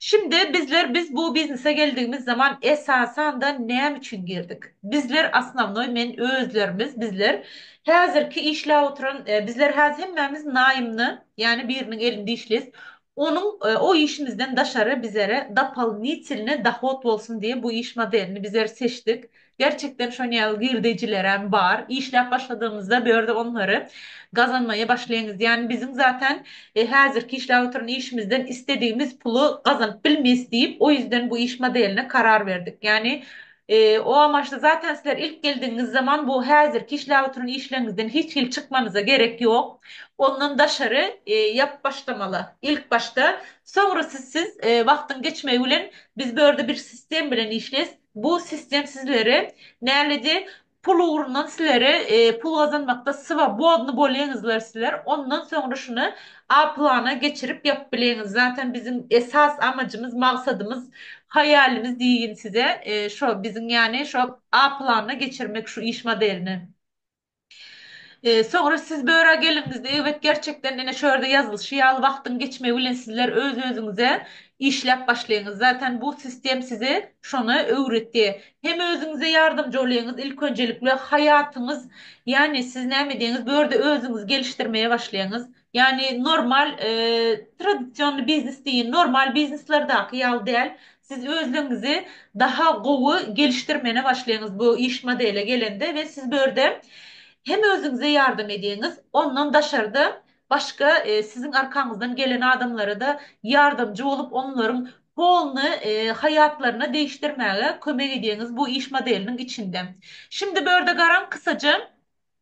Şindi bizler biz bu biznese geldigimiz zaman esasanda näme üçin girdik? Bizler osnovnoý men özlerimiz bizler häzirki işläp oturan bizler häzir hemmämiz naýymny ýani biriniň elinde işleýs onuň o işimizden daşary bizere dopolnitelnyý dohod bolsun diýe bu iş modelini bizler seçdik Gerçekden şon ýaly girdejilerem bar. Işläp başladygymyzda bu ýerde onlary gazanmaýa başlaýyňyz. Ýani biziň zaten häzirki işläp oturan işimizden isledigimiz puly gazanyp bilmeýs diýip, o ýüzden bu iş modeline karar berdik. Ýani o amaçda zaten sizler ilk geldigiňiz zaman bu häzirki işläp oturan işleriňizden hiç hili çykmanyza gerek ýok. Ondan daşary ýap başlamaly. Ilk başda. Soňra siz siz wagtyň geçmegi bilen biz bu ýerde bir sistem bilen işleýs. Bu sistem sizleri näledi pul ugrundan sizleri pul gazanmakda sywa bodny bolýaňyzlar sizler ondan soňra şuny a plana geçirip ýapyp bileňiz zaten biziň esas amajymyz magsadymyz haýalimiz diýgin size şo biziň ýani şo a planyna geçirmek şu iş modelini. Soňra siz börä geldiňizde, eýwet, gerçekden, ine, şu ýerde ýazylyşy ýaly, wagtyň geçmegi bilen sizler öz-özüňize işläp başlaýyňyz. Zaten, bu sistem size şony öwredi. Hem özüňize ýardamjy bolýaňyz, ilk önjelikle, haýatyňyz, ýagny siz näme diýýäňiz, bu ýerde özüňizi gelişdirmäge başlaýaňyz. Ýagny normal tradisionny biznes diýin, normal bizneslerdäki ýaly däl. Siz özleňňizi daha gowy gelişdirmene başlaýyňyz bu iş modele gelende we siz bu ýerde hem özüňize ýardam edýäňiz, ondan daşarda başga siziň arkaňyzdan gelen adamlara-da ýardamjy bolup onlaryň polny haýatlaryna degişdirmäge kömek edýäňiz bu iş modeliniň içinde. Şimdi bu ýerde garaň kysaja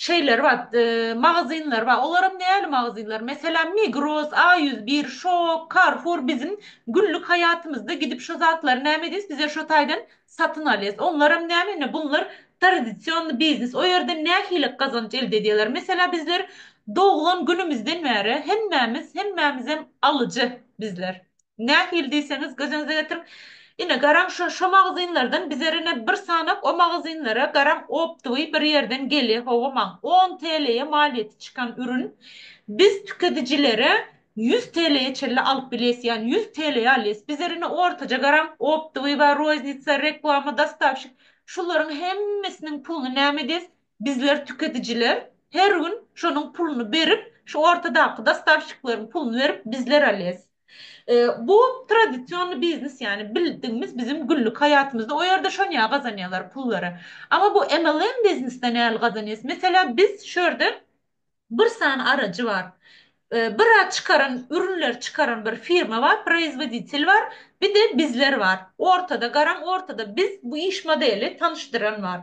Şeyler bar, magazynlar bar. Olaram näli magazynlar? Meselem, Migros, A ýüz bir, Şok, Carrefour biziň günlük haýatymyzda gidip şo zatlary näme edýäs? Biz şo taýdan satyn alýas. Onlaram näme? Ine, bunlar tradisionny biznes. O ýerden nähili gazanç elde edýärler? Meselem, bizler doglan günümizden bäri hemmämiz, hemmämizem alyjy bizler. Nähili diýseňiz, gözüňize getirip, ine, garaň şu, şo magazynlardan bizer ine bir sanak o magazynlara garaň optowy bir ýerden gelýä, hawa, maň on TL'ye malýeti çykan ürün biz tükedijilere ýüz TL'ye çenli alyp bilýäs, ýagny ýüz TL'ye alýas. Bizer ine ortaja garaň optowy bar, roznitsa, reklama, dostawşik, şularyň hemmesiniň puluny näme edýäs, Bizler tükedijiler her gün şonuň puluny berip, şu ortadaky dostavşikleriň puluny berip bizler alýas. Bu tradisionny biznes ýany bildigimiz biziň günlük haýatymyzda o ýerde şonýa gazanýalar pullary. Amma bu MLM biznesde näl gazanýas? Meselä biz şu ýerde Bir sany arajy bar. Bir a çykaran ürünleri çykaran bir firma bar, proizwoditel bar, bir de bizler bar. Ortada garaň ortada biz bu iş modeli tanyşdyran bar.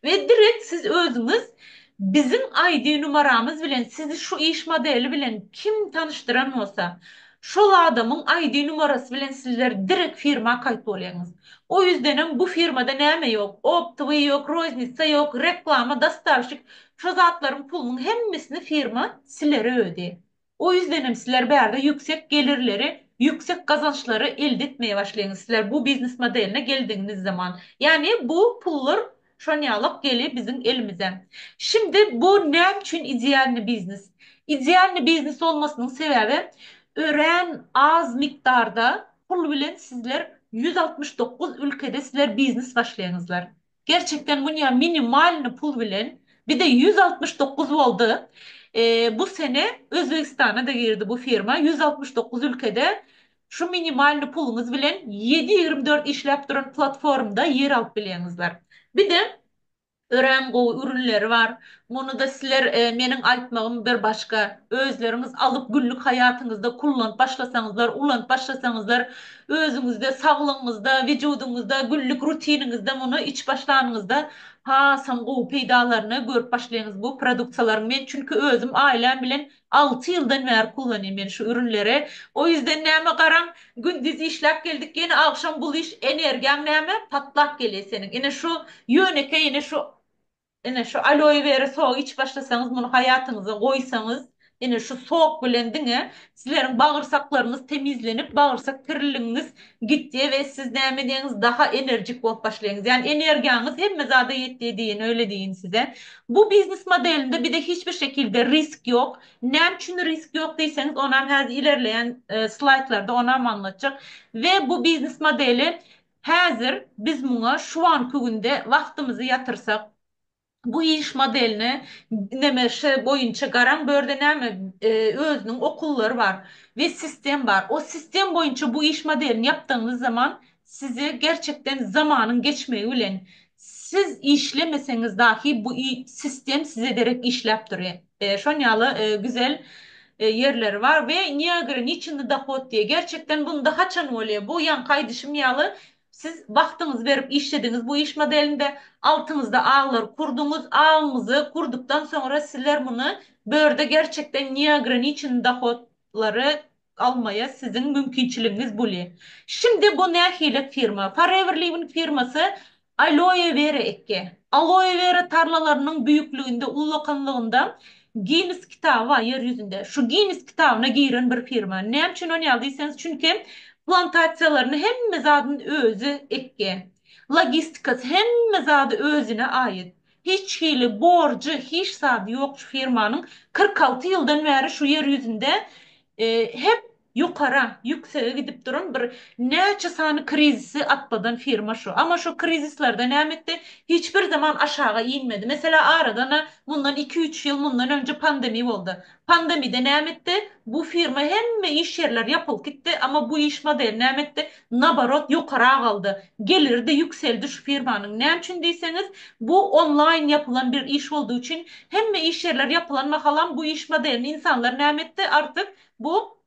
We direkt siz özüňiz biziň ID numaramyz bilen sizi şu iş modeli bilen kim tanyşdyran bolsa şol adamyň ID numarasy bilen sizler direkt firma kaýt bolýaňyz. O ýüzdenem bu firmada näme ýok, optowy ýok, roznitsa ýok, reklama, dostavşik Şo zatlaryň pulunyň hemmesini firma sileri ödi. O ýüzdenem siler bärde ýüksek gelirleri, ýüksek gazançlary elde etmeye başlaýyňyz siler bu biznes modeline geldigiňiz zaman. Ýagny bu pullar şonýalak geli biziň elimize. Şimdi bu näme üçin idealny biznes? Idealny biznes bolmasynyň sebäbi örän az mikdarda pul bilen sizler ýüz altmyş dokuz ülkede siler biznes başlaýyňyzlar. Gerçekden Munya minimalny pul bilen bize ýüz altmyş dokuz boldy bu sene Özbegistana da girdi bu firma ýüz altmyş dokuz ülkede şu minimalny puluňyz bilen ýedi ýigrimi dört işläp duran platformda ýer alyp bilýäňizler bir de örän gowy ürünleri bar Muny-da sizler meniň aýtmagym bir başga, özleriňiz alyp günlük haýatyňyzda kullanyp başlasaňyzlar, ulanyp başlasaňyzlar, özüňizde, saglygyňyzda, wyjudyňyzda, günlük rutiniňizde muny içip başlanyňyzda hasam gowy peýdalaryny görüp başlaýyňyz bu produksiýalaryň. Men çünki özüm aýlam bilen alty ýyldan bäri kullanýan men şu ürünleri. O ýüzden näme garaň, gündiz işläp geldik, ýene agşam bul iş, energiýaň näme, patlap gelýä seniň. Ine şu ýönekeý, ine şu Ine, şu aloe wera sogy içip başlasaňyz, muny haýatyňyza goýsaňyz, ine, şu sok bilen diňe sizleriň bagyrsaklaryňyz temizlenip, bagyrsak kirliligiňiz gitýär we siz näme edýäňiz, daha enerjik bolup başlaýyňyz. Ýagny energiýaňyz hemme zada ýetýär diýen, öýle diýin size. Bu biznes modelinde bize hiç bir şekilde risk ýok. Näme üçin risk ýok diýseňiz, onam häzir ilerleýän slaýdlarda onam aňlatjak. We bu biznes modeli Häzir biz muňa şu anky günde wagtymyzy ýatyrsak, bu iş modeline NMŞ boýunça garaň, bu ýerde näme özüniň okullary bar we sistem bar. O sistem boýunça bu iş modelini ýapdygyňyz zaman size gerçekden zamanyň geçmegi bilen siz işlemeseňiz dahi bu sistem size derek işläp durýar. Şon ýaly güzel ýerleri bar we Niagara niçindi dohod diýe gerçekden bunda haçan bolýa bu ýaňky aýdyşym ýaly siz wagtyňyzy berip işlediňiz bu iş modelinde altyňyzda aglary kurdyňyz agyňyzy kurdykdan soňra sizler muny bu ýerde gerçekden Niagara niçindi dohod lary almaýa siziň mümkinçiligiňiz buli. Şimdi bu nähili firma? Forever Living firmasy Aloe Vera ekge. Aloe Vera tarlalarynyň büyüklüginde, ullakanlygynda Ginnes kitaby bar ýer ýüzünde. Şu Ginnes kitabyna giren bir firma. Näme üçin ony ýaly diýseňiz, çünki plantasiýalaryny hemme zadyny özi ekge. Logistikasy hemme zady özüne aýyt. Hiç hili borjy hiç zady ýok şu firmanyň kyrk alty ýyldan bäri şu ýer ýüzünde hep ýokara ýüksege gidip duran bir näçe sany krizisi atladan firma şu ama şu krizislarda näme etdi hiç bir zaman aşaga inmedi meselä aradan mundan iki üç ýyl mundan önje pandemi boldy Pandemide näme etdi? Bu firma hemme iş ýerler ýapylyp gitdi, amma bu iş modeli näme etdi? Naborot ýokara galdy. Geliri-de ýükseldi şu firmanyň. Näme üçin diýseňiz, bu onlaýn ýapylan bir iş boldy üçin, hemme iş ýerler ýapylan mahalam bu iş modelini insanlar näme etdi? Artyk bu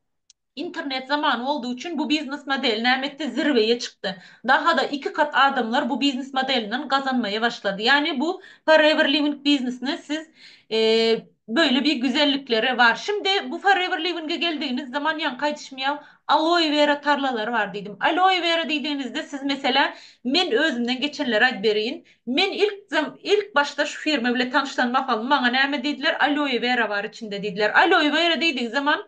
Internet zamany boldy üçin bu biznes modeli näme etdi zirweýe çykdy. Dahada iki kat adamlar bu biznes modelinden gazanmaýa başlady. Ýani bu forever living biznesine siz Böyle bir güzellikleri bar. Şimdi bu forever living'e geldigiňiz zaman ýaňky aýdyşymýaw aloe vera tarlalary bar diýdim. Aloe vera diýdigiňizde siz meselä men özümden geçenleri aýdyp bereýin. Men ilk ilk başda şu firma bile tanyşlan mahalym maňa näme diýdiler aloe vera bar içinde diýdiler. Aloe vera diýdigi zaman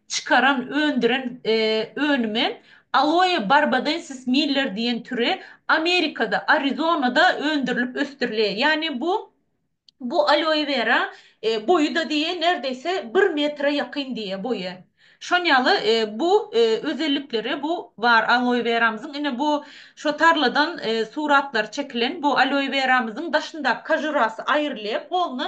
çykaran öndüren önümi Aloe barbadensis Miller diýen türi Amerikada Arizonada öndürilip ösdürilýär. Ýagny bu bu aloe vera boýuda diýe nerdeýse bir metre ýakyn diýe boýy. Şon ýaly bu özellikleri bu bar aloe veramyzyň ine bu şo tarladan suratlary çekilen bu aloe veramyzyň daşyndaky kajurasy aýrylyp golny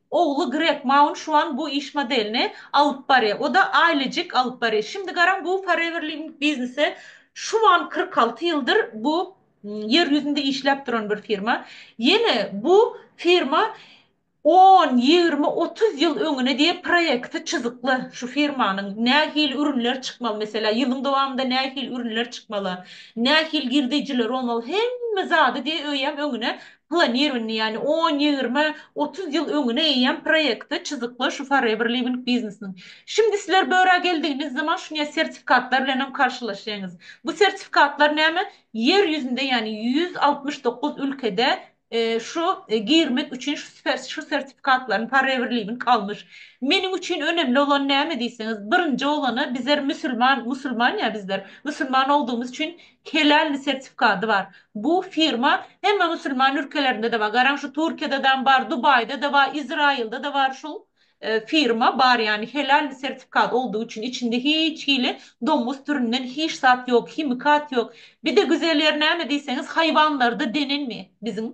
Ogly Greg Maun şuan bu iş modelini alyp barýa. O-da aýlyjik alyp barýa. Şindi garaň bu Forever Living biznesi şuan kyrk alty ýyldyr bu ýer ýüzünde işläp duran bir firma. Ýene bu firma on, ýigrimi, otuz ýyl öňüne diýen proýekti çyzykly şu firmanyň. Nähili ürünler çykmaly meselä, ýylyň dowamynda nähili ürünler çykmaly, nähili girdeýjiler bolmaly hemme zady diýe öýem öňüne planirowaniýa, ýagny on, ýigrimi, otuz ýyl öňüne eýýäm proýekti çyzykla şu Forever Living biznesiniň. Şimdi sizler bu örä geldigiňiz zaman şunya sertifikatlar bilen hem karşylaşýaňyz. Bu sertifikatlar näme? Ýer ýüzünde, ýagny ýüz altmyş dokuz ülkede şu girmek üçin şu sertifikatlaryny Forever Living almyş. Meniň üçin önemli bolan näme diýseňiz, birinji bolany bizler müsülman, musulman ýa bizler, musulman ogdugymyz üçin Helal sertifikady bar. Bu firma hemme musulman ülkelerinde-de bar. Garaň şu Türkiýede-dam bar, Dubaýda-da bar, Izraýylda-da bar şul firma bar ýani helal sertifikat oldugy üçin içinde hiç hili domus türünden hiç zat ýok, himikat ýok. Bir-de güzel ýeri näme diýseňiz haýwanlarda denenmi biziň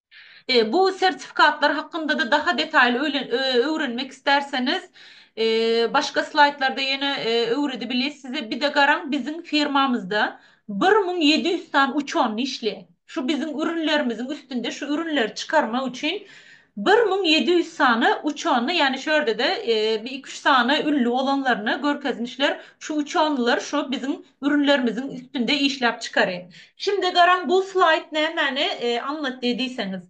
Bu sertifikatlar hakynda-da daha detaýly öwrenmek islärseniz, başga slaýdlarda ýene öwredebilis size. Bir-de garaň, biziň firmamyzda bir müň ýedi ýüz sany uçanny işleýär. Şu biziň ürünlerimiziň üstünde şu ürünleri çykarmak üçin bir müň ýedi ýüz sany uçanny, ýagny şu ýerde-de bir iki-üç sany ünli bolanlaryny görkezmişler. Şu uçannylar şu biziň ürünlerimiziň üstünde işläp çykaryň. Şindi garaň bu slaýd nämäni aňlatdy diýseňiz.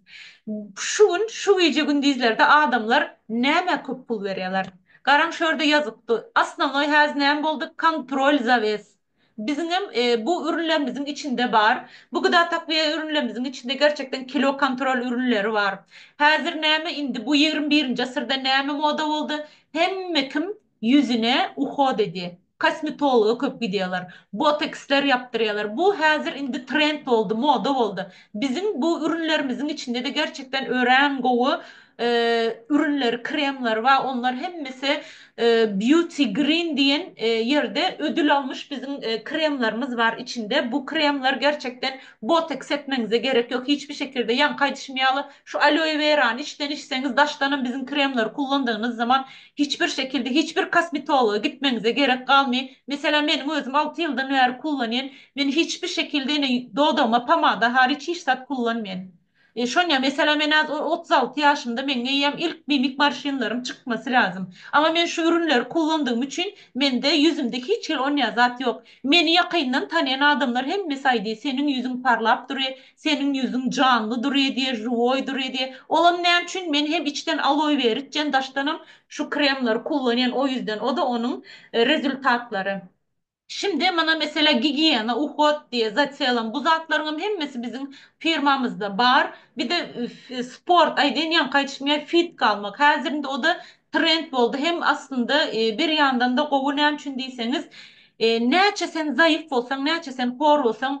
Şu gün şu gije gündizlerde adamlar nämä köp pul berýäler. Garaň şu ýerde ýazypdy. Osnovnoý häz näme boldy kontrol zawes. Biziňem bu ürünlerimiziň içinde bar. Bu gda takwiýa ürünlerimiziň içinde gerçekden kilo kontrol ürünleri bar. Häzir näme indi bu ýigrimi birinji asyrda näme moda boldy. Hemme kim Ýüzüne uhod edi. Kosmetologa köp gidýärler. Boteksler ýapdyrýarlar. Bu häzir indi trend boldy, moda boldy. Biziň bu ürünlerimiziň içinde-de gerçekden örän gowy ürünleri, kremleri bar. Onlar hemmesi Beauty Green diýen ýerde ödül almyş biziň kremlerimiz bar içinde. Bu kremler gerçekden boteks etmeňize gerek ýok. Hiç bir şekilde ýaňky aýdyşym ýaly şu aloe werany içden içseňiz daşdanam biziň kremleri kullandygynyz zaman Hiç bir şekilde hiç bir kosmetologa gitmeňize gerek galmy. Meselem meniň özüm alty ýyldan bäri kullanýan. Men hiç bir şekilde ene dodagyma pomada hariç hiç zat kullanmýan. E şonýa meselem ene az otuz alty ýaşymda meň eýýäm ilk mimik marşinlerim çykmasy lazym. Ama men şu ürünleri kullandygym üçin mende ýüzümde hiç hil onýa zat ýok. Meni ýakyndan tanýan adamlar hemmesi aýdy seniň ýüzüň parlap dury Seniň ýüzüň janly durýedi, žiwoý durýedi. Olam näme üçin, men hem içden aloe weri içen, daşdanam şu kremleri kullanýan, o ýüzden, o-da onuň rezultatlary. Şimdi mana meselä gigiýena, uhod diýe zaçelam, bu zatlaryňam hemmesi biziň firmamyzda bar. Bir-de sport, aýdaýyn ýaňky aýdyşym ýaly fitka almak. Häzir indi o-da trend boldy. Hem aslynda bir ýandan-da gowy, näme üçin diýseňiz, näçe sen zaýyf bolsaň, näçe sen hor bolsaň,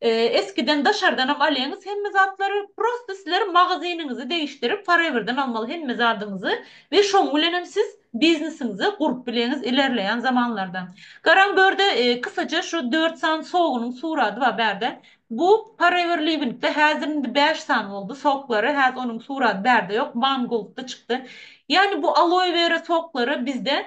Eskiden daşardanam alýaňyz hemme zatlary, prosta sizler magazynyňyzy degişdirip foreverden almaly hemme zadyňyzy we şoň bilenem siz biznesiňizi gurup bileňiz ilerleýän zamanlarda. Garaň börde kysaja şu dört sany sogynyň surady bar bärde bu forever livingde häzir indi bäş sany boldy soklary häz onuň surady bärde ýok one goldda çykdy ýani bu aloe vera soklary bizde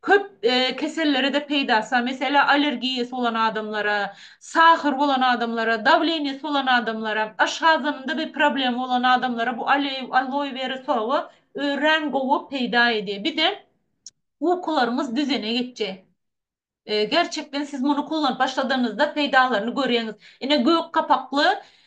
Köp kesellere-de peýdasa, meselä, allergiýasy bolan adamlara, sahyr bolan adamlara, dawleniýasy bolan adamlara, aşgazanynda bir problemi bolan adamlara bu aloe vera sogy örän gowy peýda edýär. Bir de ukularyňyz düzene geçýär. Gerçekden siz muny kullanyp başladanyňyzda peýdalaryny görýäňiz. Ine gök gapakly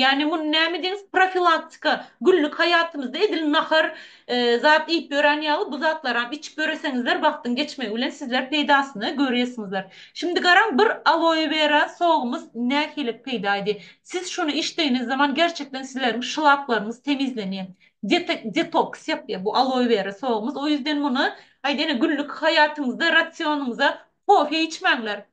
Ýagny muny näme diýeňiz profilaktika günlük haýatymyzda edil nahar zat iýip ýören ýaly bu zatlaram içip ýöreseňizler wagtyň geçmegi bilen sizler peýdasyny görýäsiňizler. Şimdi garaň bir aloe vera sogumyz nähili peýda edi. Siz şuny içdigiňiz zaman gerçekden sizleriň şlaplaryňyz temizlenýä. Detoks ýapýa bu aloe vera sogumyz o ýüzden muny aýdaýyna günlük haýatyňyzda rasionymyza kofe içmäňler.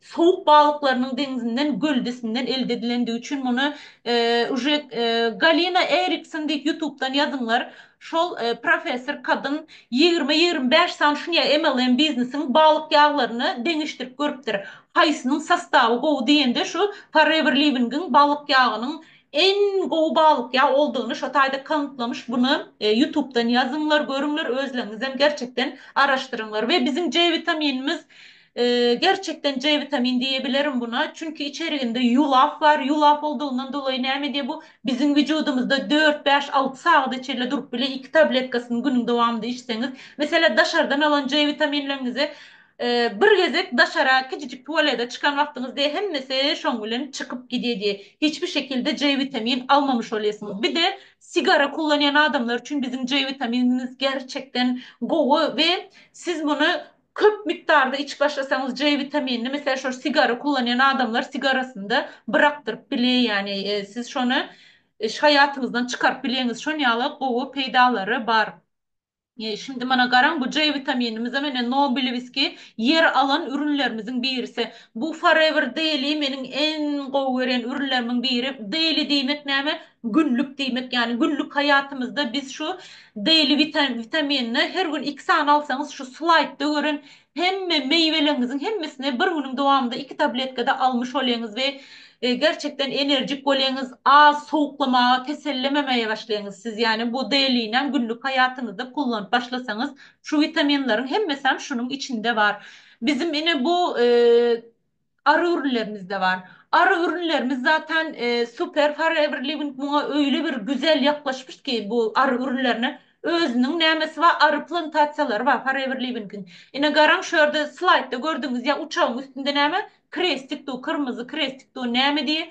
Sowuk balyklarynyň deňzinden göldesinden elde edilendigi üçin muny uje Galina Erikson diýip ýutubdan ýazyňlar şol professor kadyn ýigrimi ýigrimi bäş sany şuny MLM biznesiň balyk ýaglaryny deňeşdirip görüpdir haýsynyň sostawy gowy diýende şu Forever Livingiň balyk ýagynyň en gowy balyk ýag oldygyny şo taýda kanıtlamyş buny ýutubdan ýazyňlar görüňler özleňizem gerçekden araşdyryňlar we biziň C witaminimiz Gerçekden C witamin diýebilerin buna, çünki içeriginde ýulaf bar, ýulaf boldugyndan dolaýy näme edýär bu, biziň wüjudymyzda dört, bäş, alty sagada çenli durup bilýär, iki tabletkasyny günüň dowamynda içseňiz. Meselem, daşardan alan C witaminleriňizi bir gezek daşara kiçijik tualede çykan wagtyňyzda hemmesi şoň bilen çykyp gidýär diýär. Hiç bir şekilde C witamin almamuş bolýarsyňyz. Bir-de sigara kullanýan adamlar üçin biziň C witaminimiz gerçekden gowy we siz muny Köp mukdarda içip başlasaňyz J witaminini meselem şol sigara kullanýan adamlar sigarasynda brakdyryp bilýär ýani siz şony haýatyňyzdan çykaryp bilýäňiz şon ýaly gowy peýdalary bar. Şindi mana garaň bu J witaminimize mine Nobilewski ýer alan ürünlerimiziň birisi bu forever daily meniň en gowy görýän ürünlerimiň biri daily diýmek näme Günlük diýmek ýany günlük haýatymyzda biz şu Daily witaminini her gün iki sany alsaňyz şu slaýdda gören hemme meýweleriňiziň hemmesini bir günüň dowamynda iki tabletkada almyş bolýaňyz we gerçekden enerjik bolýaňyz az sowuklamaga kesellememäge başlaýaňyz siz ýani bu Dailynam günlük haýatyňyzda kullanyp başlasaňyz şu witaminleriň hemmesem şunuň içinde bar bizim ine bu Ary gürünlerimizde bar. Ary gürünlerimiz zaten super forever living muňa öýle bir güzel ýaklaşypyş ki bu ary gürünlerine özüniň nämesi bar ary plantasiýalary bar forever livingiň. Ine garaň şu ýerde slaýdda gördüňiz ýa uçagyň üstünde näme krestik du kyrmyzy krestik du näme diýe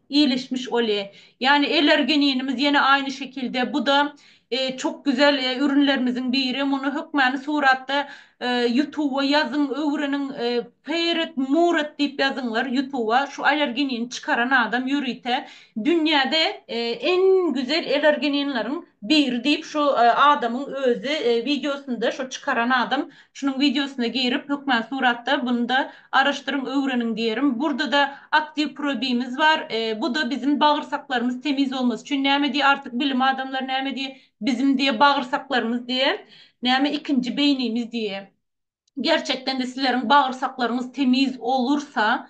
Iýilişmiş oli. Ýani eler geninimiz ýene aýny şekilde buda çok güzel ürünlerimiziň biri muny hökmany suratda ýutuba ýazyň öwreniň Peret Murat diýip ýazyňlar ýutuba şu aler genini çykaran adam ýörite dünýäde en güzel eler geninleriň biri diýip şu adamyň özi wideosynda şu çykaran adam Şunuň wideosyna girip hökman suratda bunyda araşdyryň öwreniň diýerim. Burdada aktiw probimiz bar. Buda bizin bagyrsaklarymyz temiz bolmasy üçin näme diýe artyk bilim adamlar näme diýe bizin diýe bagyrsaklarymyz diýe näme ikinji beýnimiz diýe. Gerçekdende sizleriň bagyrsaklaryňyz temiz olursa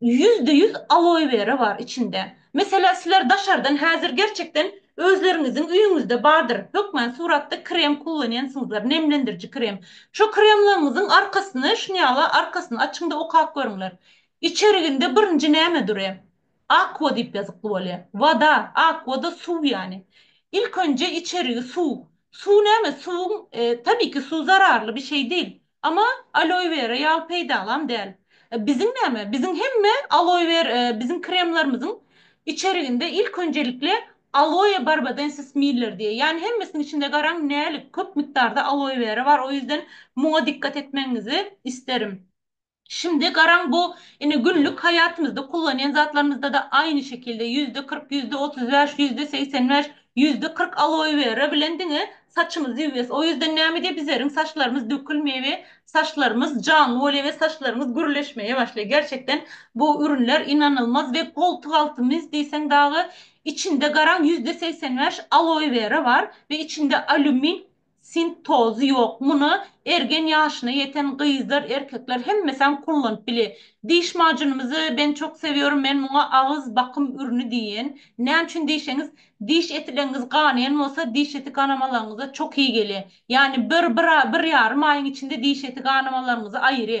Ýüzde ýüz aloe vera bar içinde. Meselä sizler daşardan häzir gerçekden özleriňiziň üýüňizde bardyr hökmän suratda krem kullanýansyňyzlar nemlendiriji krem. Şo kremlaryňyzyň arkasyny şun ýala arkasyny açyňda okap görüňler. Içeriginde birinji näme dury? Aqua diýip ýazykly bolýa. Wada, aqua da suw ýany. Ilk önje içerigi suw. Suw näme? Suwuň tabii ki suw zararly bir şey değil. Ama aloe vera ýaly peýdalam däl. Biziň näme? Biziň hemme aloe wer biziň kremlarymyzyň içeriginde ilk önjelikle aloe barbadensis Miller diýýär. Ýani hemmesiniň içinde garaň nälik köp mukdarda aloe vera bar. O ýüzden muňa dikkat etmegiňizi isterim. Şimdi garaň bu ine günlük haýatymyzda kullanýan zatlarymyzda-da aýny şekilde ýüzde kyrk, ýüzde otuz bäş, ýüzde segsen bäş, Ýüzde kyrk aloe vera bilen diňe saçymyzy ýuwýas o ýüzden näme diýe bizerin saçlarymyz dökülmeýe we saçlarymyz janly bolýa we saçlarymyz gürleşmeýe başlaýa gerçekden bu ürünler ynanylmaz we goltuk alty mis diýseň dagy içinde garaň ýüzde segsen bäş aloe vera bar we içinde alýumin Sint tozy ýok muny ergen ýaşyna ýeten gyzlar erkekler hemmesem kullanyp bile diş majunymyzy ben çok seviyorum men muňa agyz bakym ürüni diýen näme üçin diýseňiz diş etileňiz ganaýan bolsa diş eti ganamalaryňyza çok iyi gelýä ýani bir bir bir ýarym aýyň içinde diş eti ganamalaryňyzy aýry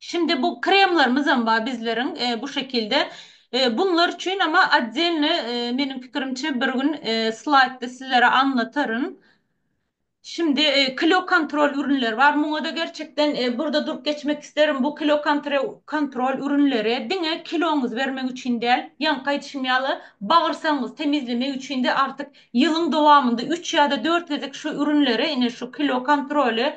Şindi bu kremlarymyzam bar bizleriň bu şekilde. Bunlar üçin ama otdelny meniň pikirimçe bir gün slaýdda sizlere anlataryn. Şindi kilo kontrol ürünleri bar. Muňada gerçekden burda durup geçmek isterim. Bu kilo kontrol ürünleri diňe kiloňyzy bermek üçin däl. Ýaňky aýdyşym ýaly bagyrsagyňyzy temizlemek üçin-de artyk ýylyň dowamynda üç ýa-da dört gezek şu ürünleri, ine şu kilo kontroly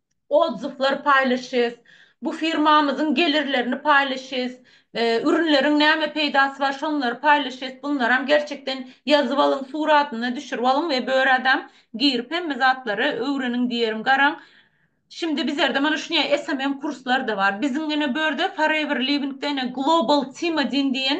odzywlar paýlaşýas, bu firmamyzyň gelirlerini paýlaşýas, ürünleriň näme peýdasy bar şonlary paýlaşýas, bunlaram gerçekden ýazyp alyň, suratyny düşürip alyň we börä-dam girip hemme zatlary öwreniň diýerin, garaň. Şindi bizerde mana şunýa SMM kurslar-da bar. Biziň ine börde Forever Living-de ine Global Team-a diýen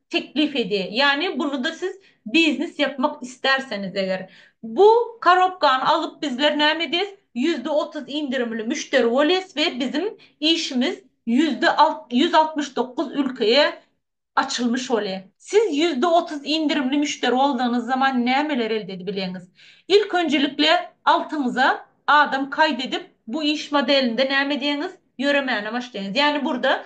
teklip edýär. Ýagny buluda siz biznes ýapmak istärseniz eger. Bu korobkany alyp bizler näme edýäs? Ýüzde otuz indirimli müşderi bolýas we biziň işimiz ýüzde ýüz altmyş dokuz ülkeye açylmyş bolýar. Siz ýüzde otuz indirimli müşderi boldygynyz zaman nämeler elde edibilýäňiz? Ilk önjelikle altyňyza adam kaýt edip bu iş modelinde näme edýäňiz? Ýöremäne başlaýaňyz. Ýagny burda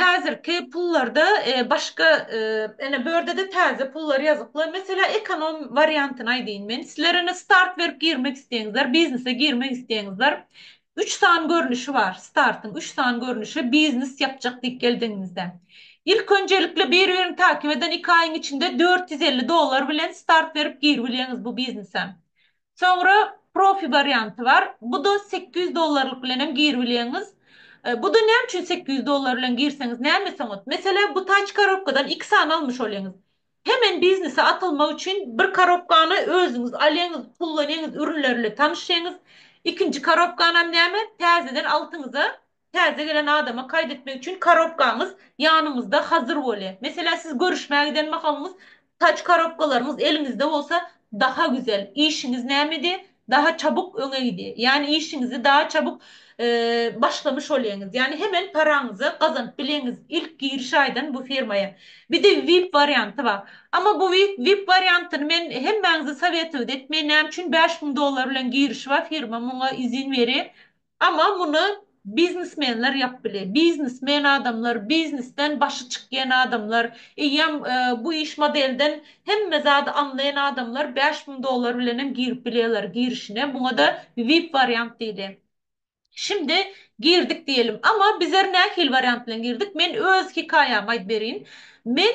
Häzirki pullarda başga ene bu ýerde-de täze pullar ýazykly. Meselä ekonom wariantyny aýdaýyn men. Sizler ene start berip girmek isleýäňizler, biznese girmek isleýäňizler. Üç sany görnüşi bar startyň. Üç sany görnüşi biznes ýapjak diýip geldigiňizde. Ilk önjelikli bir-birini takip eden iki aýyň içinde dört ýüz elli dollar bilen start berip giribilýäňiz bu biznese. Soňra profi warianty bar. Bu-da sekiz ýüz dollarlyk bilen hem giribilýäňiz. Bu-da näme üçin sekiz ýüz dollar bilen girseňiz näme soňat? Meselä, bu taç korobkadan iki sany almyş bolýaňyz. Hemen biznese atylmak üçin bir korobkany özüňiz alýaňyz, kullanýaňyz, ürünler ile tanyşýaňyz. Ikinji korobkanam näme, täzeden altyňyza Täze gelen adama kaýt etmek üçin korobkaňyz ýanyňyzda hazyr bolýa. Meselä siz görüşmä giden mahalyňyz tac korobkalaryňyz eliňizde bolsa daha güzel, işiňiz nämedi daha çabuk öňe gidi. Ýany işiňizi daha çabuk başlamuş bolýaňyz. Ýany hemen paraňyzy gazanyp bilýaňyz ilk giriş aýdan bu firmaýa. Bide vip warianty bar. Ama bu vip wariantyny men hemmäňize sowetowit etmeýin näme üçin bäş müň dollar bilen girişi bar firma muňa izin beri Ama muny biznesmenler yap bile. Biznes men adamlar, biznesden başy çykýan adamlar, eýýam bu iş modelden hemme zady anlaýan adamlar bäş müň dollar bilenem girip bilýärler girişine. Muňada vip wariant diýdi. Şimdi girdik diýelim. Ama bizer nähili wariant bilen girdik? Men öz hikaýamy aýdip berýin. Men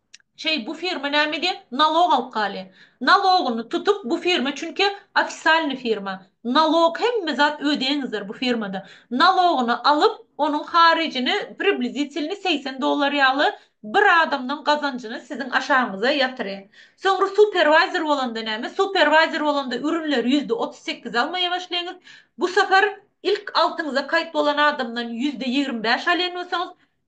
Şeý bu firma näme edýä? Nalog alyp galýa. Nalogyny tutup bu firma çünki ofisalny firma. Nalog hemme zat ödeýäňizdir bu firmada. Nalogyny alyp onuň haryjyny priblizitilni segsen dollar ýaly bir adamdan gazanjyny siziň aşagyňyza ýatyrýa. Soňra superwaýzer bolanda näme? Superwaýzer bolanda ürünleri ýüzde otuz sekiz almaýa başlaýaňyz. Bu sapar ilk altyňyza kaýt bolan adamdan ýüzde ýigrimi bäş alýan bolsaňyz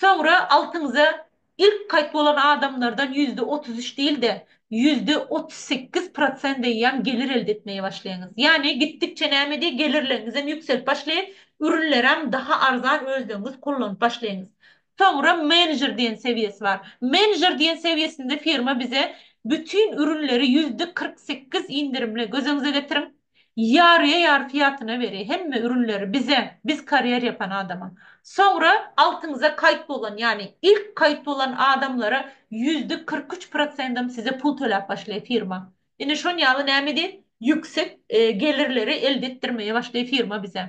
Soňra altyňyza ilk kaýt bolan adamlardan ýüzde otuz üç däl-de, ýüzde otuz sekiz prosent eýýäm gelir elde etmeye başlaýaňyz. Ýagny gitdikçe näme diý, gelirleriňizem ýükselip başlaýar, ürünlerem daha arzan özleňiz kullanyp başlaýaňyz. Soňra menejer diýen sewiýesi bar. Menejer diýen sewiýesinde firma bize bütin ürünleri ýüzde kyrk sekiz indirimli, gözeňize getiriň, Ýarýa ýar fiýatyna beri hemme ürünleri bize biz karýer ýapan adama. Soňra altyňyza kaýt bolan ýagny ilk kaýt bolan adamlara ýüzde kyrk üç prosendam size pul töläp başlaý firma. Ine şon ýaly näme edýär ýüksek gelirleri elde etdirmeýe başlaý firma bize.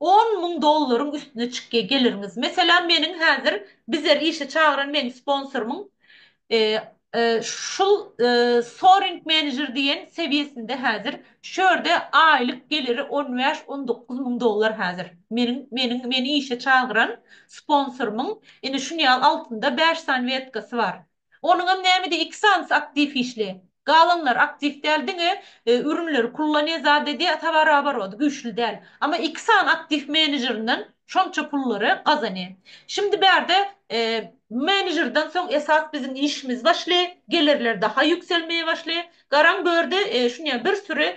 On müň dollaryň üstüne çykýa geliriňiz. Meselem meniň häzir bizer işe çagyran meniň sponsorymyň şul soaring manager diýen sewiýesinde häzir şu ýerde aýlyk geliri on bäş on dokuz müň dollar häzir meniň meniň meni işe çagyran sponsorymyň ine şunýal altynda bäş sany wetkasy bar. Onuňam nämedi iki sanysy aktiw işli. Galanlar aktiw däl diňe ürünleri kullanyýa zadedi towaroborot güýçli däl. Amma iki sany aktiw menejerinden şonça pullary gazany. Şimdi bärde menejerden soň esas biziň işimiz başly, gelerler daha ýükselmeye başly. Garaň börde şunya bir süri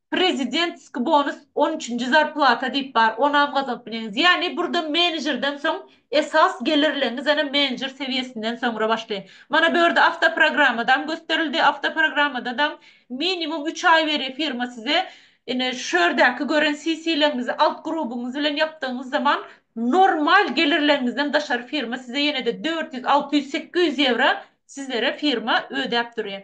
Prezidentski bonus on üçünji zarplata diýip bar, onam gazanyp bilýäňiz. Ýagny burda menejerden soň esas gelirleňiz ene menejer sewiýesinden soňra başlaýar. Mana bu ýerde awtoprogrammadam gösterildi, awtoprogrammadadam minimum üç aý berýär firma size. Ine şu ýerdäki gören CC-leriňizi alt grubyňyz bilen ýapdygyňyz zaman normal gelirleňizden daşary firma size ýene-de dört ýüz, alty ýüz, sekiz ýüz ýewro sizlere firma ödäp durýar.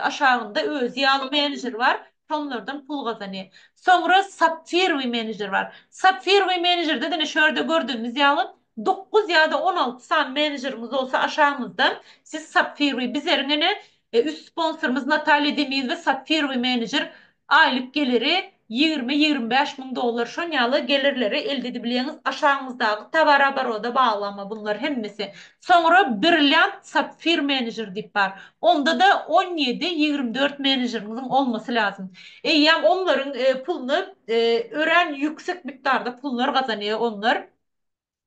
Aşagynda özi ýaly menejer bar, şonlardan pul gazanýar. Soňra sapfirowy menejer bar. Sapfirowy menejerde diňe şu ýerde gördügimiz ýaly dokuz ýa-da on alty sany menejerimiz bolsa aşagymyzda siz sapfirowy biz eriň ene üst sponsorymyz Natalýa Demiýewa sapfirowy menejer Aýlyk geliri ýigrimi-ýigrimi bäş müň dollar şon ýaly gelirleri elde edibilýäňiz aşagyňyzdaky towar-obaroda bagly ama bunlar hemmesi. Soňra Brilliant Sapphire Manager diýip bar. Onda-da on ýedi, ýigrimi dört menejeriňiziň olmasy lazym. Eýýäm onlaryň puluny örän ýüksek mikdarda pullar gazanýar onlar.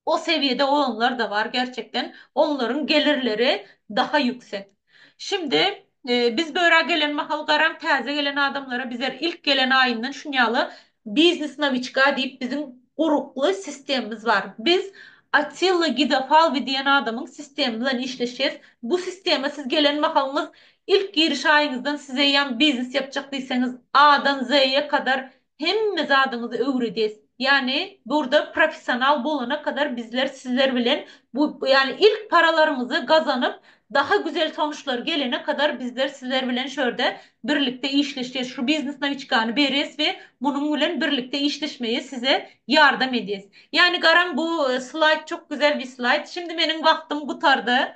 O sewiýede olanlar da bar gerçekden onlaryň gelirleri daha ýüksek. Şimdi biz börä gelen mahal garaň täze gelen adamlara bizer ilk gelen aýyndan şunýaly biznes nawiçka diýip biziň gurukly sistemimiz bar. Biz Atilla Gidafalwi diýen adamyň sistemi bilen işleşýäs. Bu sistema siz gelen mahalyňyz ilk giriş aýyňyzdan size ýan biznes ýapjak diýseňiz A-dan Z-ýe kadar hemme zadyňyzy öwredes. Ýagny burda professional bolana kadar bizler sizler bilen bu ýagny ilk paralaryňyzy gazanyp daha güzel sonuçlar gelene kadar bizler sizler bilen şu ýerde birlikde işleşes şu biznes nawiçkany beres we munuň bilen birlikde işleşmeye size ýardam edes. Ýagny garaň bu slaýd çok güzel bir slaýd. Şimdi meniň wagtym gutardy.